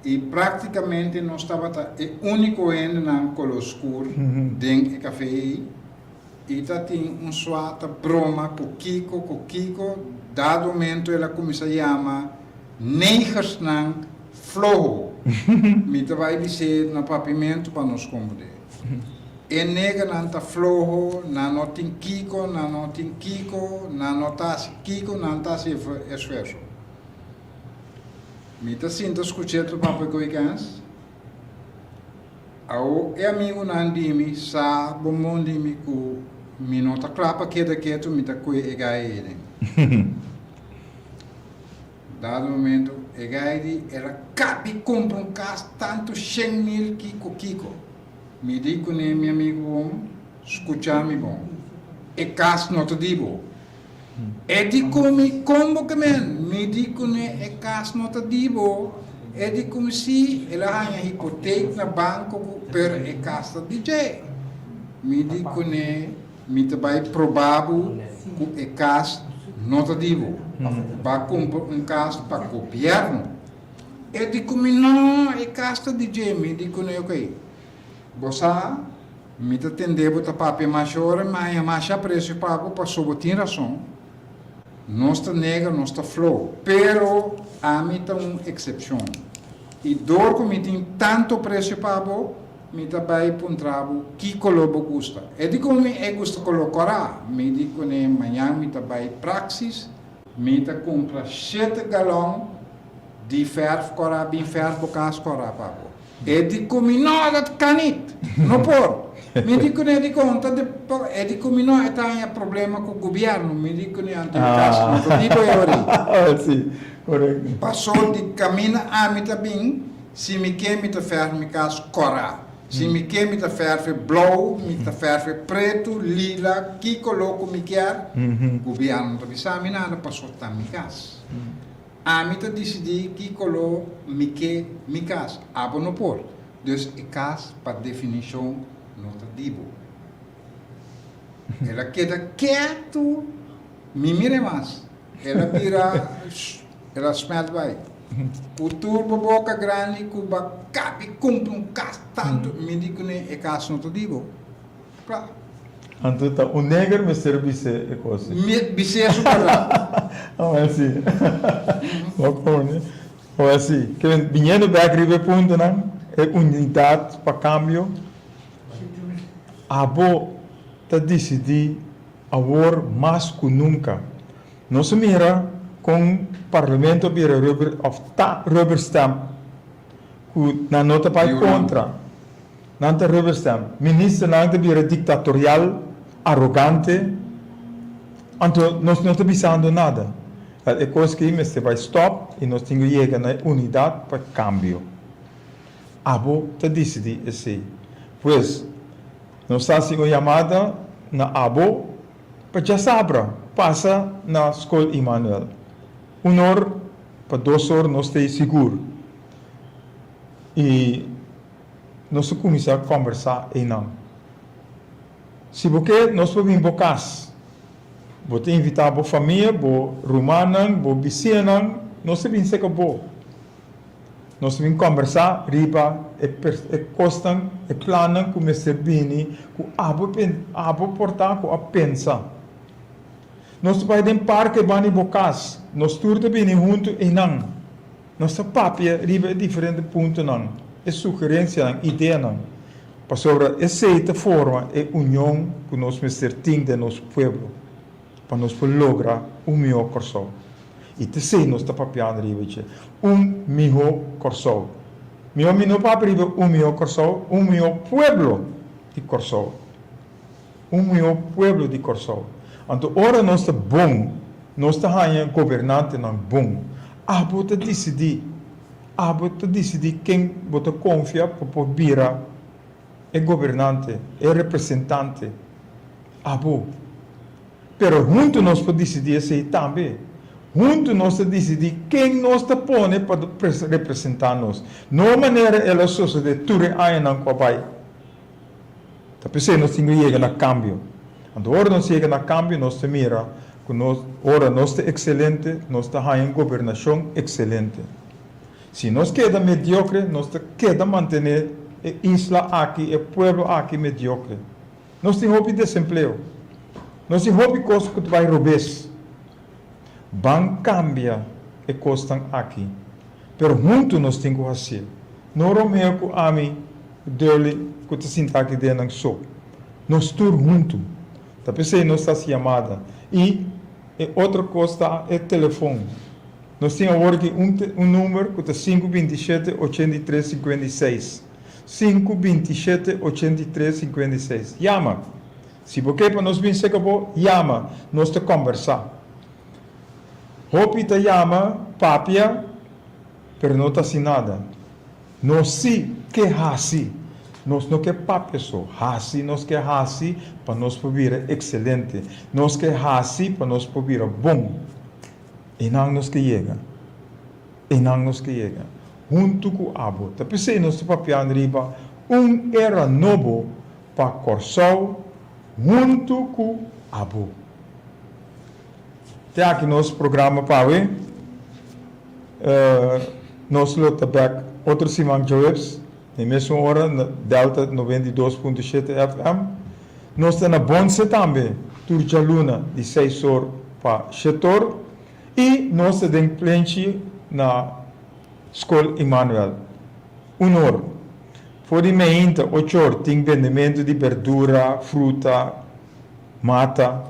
i praktikamente nos tabata e úniko hendenan koló oskur den e kafé ei, i ta tin un suat broma ku Kiko, ku Kiko dado momento el a kuminsá yama Negersnan floho. Mi ta bai bis'é na papimentu pa nos kombud'é. E negernan ta floho, nan no tin kiko, nan no tin kiko, nan no ta hasi kiko, nan ta hasi esfuerso. Mi ta sinta skuch'é ta pap'é ku e kèns. Awo e amigunan di mi sa bombon di mi ku mi no ta kla pa keda ketu, mi ta kue e gai eden. dado momento e gai di el a kap di kumpra un kas tantu shen mil kiko kiko mi di kuné mi amigu bon skucha mi bon e kas no ta di bo e di ku mi kon bo kemen mi di kuné e kas no ta di bo e di ku mi si el a haña hipotek na banko ku pero e kas ta di dje mi di kuné Mi ta bai probá bo ku e kas no ta di bo. Pafo ku ba kumpra un kas pa gobièrnu? E di ku mi, No, e kas ta di dje. Mi di ku no, Ok, bo sa, mi ta tendé bo ta papia masha ora, mi a haña masha apresio pa bo, pasobra bo tin rason. Nos ta nega, nos ta flou. Pero ami ta un eksepshon. I dor ku mi tin tantu apresio pa bo, Mi ta bai puntra bo ki color bo gusta. E di como mi e gusta color cora, mi di cune mañan mi ta bai Praxis, mi ta cumpra shete galon di verf cora bin verf bo cas cora pa bo, e di cumi no dat kan nit, no por, mi di cune di con ta de por, e di cumi no e ta haña problema cu gobierno, mi di cune anto e cas no ta di bo e ori, paso di camina ami ta bin. Si mi ke mi ta ferf mi kas kora. Si mi ke mi ta ferfe blou, mi ta ferfe pretu, lila, ki koló ku mi kier, gubièrnu no ta bisa mi nada paso ta mi kas. Ami ta disidí ki koló mi ke mi kas, abo no por, dus e kas pa definishon no ta di bo. El a keda ketu, mi mira e mas. El a bira, el a smelt bai. Cu tur bo boca grandi cu bo a cabi cumpli un cas tanto, mi di cu ne e cas no ta di bo. Cla. Anto ta un neger mester bise e cos ei. Mi bise su verdad. Amo hasi. Bo pone. Bo hasi. Kilen, biniendo bek riba e puntonan, e unidad pa cambio, abo ta dicidi. Awor mas ku nunka nos a mira kon Parlamento a bira rubber òf ta rubber stamp ku nan no ta bai kontra. Nan ta rubber stamp. Ministernan ta bira diktatorial, arogante. Anto nos no ta bisando nada. Wel e kos aki mester bai stòp i nos tin ku yega na e unidat pa kambio. Abo ta disidí esei. Pues, nos ta hasi un yamada na abo pa djasabra pasa na Skol Immanuel. Un or pa dos or nos ta ei sigur. I nos ta kuminsá kòmbersá einan. Si bo ke nos por bin bo kas, bo ta invitá bo famia, bo rumannan, bo bisianan, nos ta bin seka bo. Nos ta bin kòmbersá riba e kosnan, e plannan ku mester bini ku abo por ta ku a pensa. Nos ta bai den parke bani bo kas. Nos tur ta bini huntu einan. Nos ta papia riba e diferente puntonan, e sugerensianan, ideanan, pasobra esei ta forma e union ku nos mester tin den nos pueblo. pa nos por logra un mihó Kòrsou. I ta esei nos ta papiando riba i dje, un mihó Kòrsou. Mihó mi no papia riba un mihó Kòrsou, un mihó pueblo di Kòrsou. Un mihó pueblo di Kòrsou. Anto ora nos ta bon, nos ta haña gobernantenan bon. Abo ta disidí. Abo ta disidí ken bo ta konfia pa por bira. E gobernante, e representante, abo. Pero huntu nos por disidí esei tambe. Huntu nos ta disidí ken nos ta pone pa representá nos. No manera el a sosodé tur e añanan ku a bai. Ta p'esei nos tin ku yega na kambio. Anto ora nos yega na kambio nos ta mira ku nos, ora nos ta ekselente, nos ta haña un gobernashon ekselente. Si nos keda mediokre, nos ta keda mantené e isla aki, e pueblo aki mediokre. Nos tin hopi desempleo. Nos tin hopi kos ku ta bai robes. Ban kambia e kosnan aki, pero huntu nos tin ku hasié. No Romeo ku ami, Durley, ku ta sinta aki den nan so. Nos tur huntu. Ta p'esei nos ta hasi yamada. I e otro kos ta e telefon. Nos tin awor aki un un number cu ta sinku binti i shete ochenta i tres sinkuenta i seis. Sinku binti i shete ochenta i tres sinkuenta i seis. Yama! Si bo ke pa nos bin seca bo, yama, nos ta combersa. Hopi ta yama, papia, pero no ta haci nada. Nos si ke haci. Nos no ke papia so. Haci nos ke haci pa nos por bira excelente. Nos ke haci pa nos por bira bon. Einan nos ta yega, einan nos ta yega huntu ku abo. Ta p'esei nos ta papiando riba un era nobo pa Kòrsou huntu ku abo. Te aki nos programa pa awe. Nos lo ta bèk otro siman Jueps. Na e mesun ora, na Delta noventa i dos punto shete FM, nos ta na Bonce tambe tur djaluna di seis or pa shetor i nos ta den Plenchi na Skol Immanuel un or. For di meinta ochor tin bendementu di berdura, fruta, mata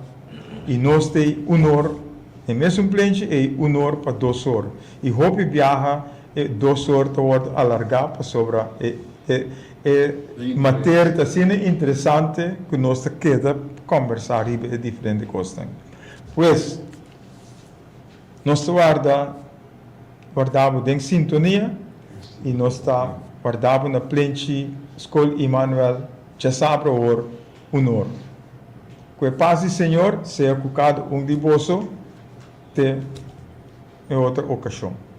i nos ta ei un or na e mesun plenchi, ei un or pa dos or i hopi biaha. E dos or ta wòrdu alargá pasobra e e e materia ta asina interesante ku nos ta keda kòmbersá riba e diferente kosnan. Pues, nos ta warda warda bo den sintonia i nos ta warda bo na plenchi Skol Imanuel djasabra awor un or. Ku e pas di Señor sea ku kada un di boso te e otro okashon.